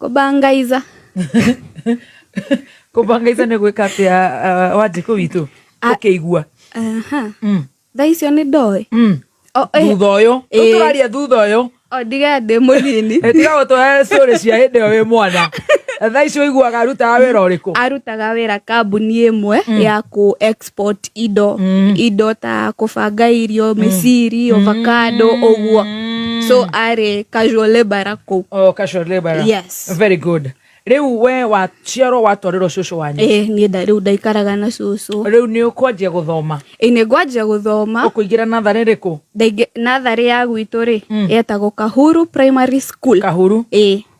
kũbangaiza kũbangaiza nĩ gwĩka atĩ uh, wanjĩkũ witũ ũkĩigua mm. thaa icio nĩ ndoĩ mm. eh. thutha ũyũ eh. ũtũraria thutha ũyũ ndige ndĩ mũnini eh, tiga gũtũhe cũrĩ cia hĩndĩ ĩyo wĩ mwana thaa icio iguaga arutaga wĩra ũrĩkũ arutaga wĩra kambuni ĩmwe mm. ya kũ pot indo mm. indo ta kũbanga irio mm. mĩciri ovacado mm. ũguo so arĩ casual labor kũu oh, casual labor yes very good riu we waciarwo watwarirwo cucu wanyu eh ni nda riu ndaikaraga na cucu riu ni ukwanjia guthoma eh ni ngwanjia guthoma ukuingira nathari riku nathari ya gwitu ri mm. yetagwo kahuru primary school kahuru eh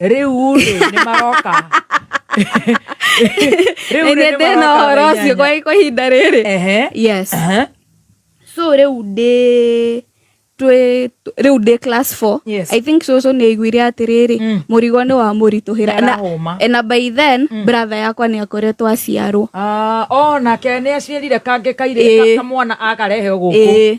rĩu rĩ nĩ maroka Rĩu rĩ, nĩ ndĩna maroka ũhoro thaa ũcio inyanya. kwa kwa ihinda rĩrĩ Ehe. yes Aha. so rĩu ndĩ twĩ- tw- rĩu ndĩ class 4 Yes. i think cũcũ nĩ aiguire atĩrĩrĩ Mm. mũrigo nĩ wa mũritũhĩra Nĩ arahũma. Na- na by then bratha yakwa nĩ akoretwo aciarwo Ah, o nake nĩ aciarire kangĩ kairĩ Ĩĩ. kamwana akarehe gũkũ Ĩĩ.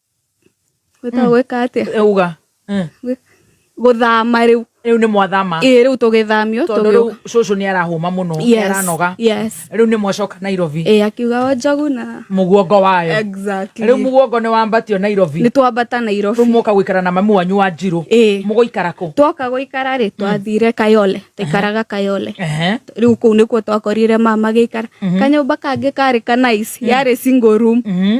gwĩta gwĩka atĩa Eh, uga Eh, Gwĩ- gũthama rĩu rĩu nĩ mwathama ĩĩ rĩu tũgĩthamio tondũ rĩu tũgĩũka. cũcũ nĩ arahũma mũno nĩ Yes, aranoga yes. rĩu nĩ mwacoka nairobi Ĩĩ, akiuga o njogu na mũguongo wayo Exactly. rĩu mũguongo nĩ wambatio nairobi nĩ twambata rĩu nairobi mwoka gũikara na mami wanyu wa njirũ Ĩĩ. mũgũikara kũ twoka gũikara rĩ twathire kayole tũikaraga kayole Ehe. rĩu kũu nĩkuo twakorire mama gĩikara kanyũmba kangĩ karĩ kanaici yarĩ single room Mhm.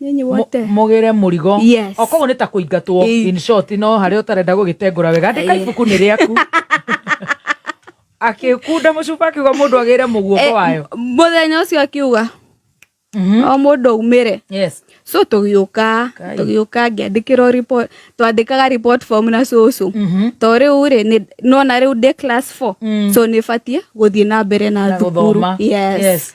Nyinyi Mu- wote. mũgĩre mũrigo Yes. o koguo nĩ ta kũingatwo Ĩĩ. in short no harĩa ũtarenda gũgĩtengũra wega andĩka Ĩĩ. ibuku nĩ rĩaku akĩkunda mũcuba akiuga mũndũ agĩre Eh, mũguoko wayo m- Mũthenya ũcio akiuga Mhm. o mũndũ aumĩre. yes So tũgĩũka, Kai. tũgĩũka ngĩandĩkĩrwo report, twandĩkaga report form na cũcũ. Mhm. To rĩu rĩ, nĩ- nona rĩu ndĩ class 4. Mm. So nĩbatiĩ gũthiĩ na mbere na Na thukuru. gũthoma. Yes. Yes.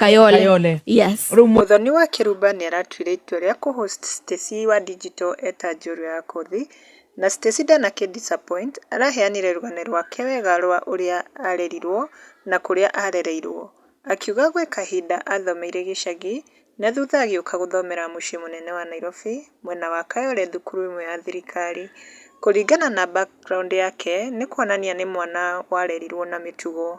Kayole. Yes. Rĩu Mũthoni wa Kĩrumba nĩ aratuire itua rĩa kũ host Stacy wa Digital eta njorua ya kothi, na Stacy ndanakĩ disappoint, araheanire rũgano rwake wega rwa ũrĩa arerirwo na kũrĩa arereirwo. Akiuga gwĩ kahinda athomeire gĩcagi na thutha agĩũka gũthomera mũciĩ mũnene wa Nairobi mwena wa Kayole thukuru ĩmwe ya thirikari. Kũringana na background yake nĩ kuonania nĩ mwana warerirwo na mĩtugo.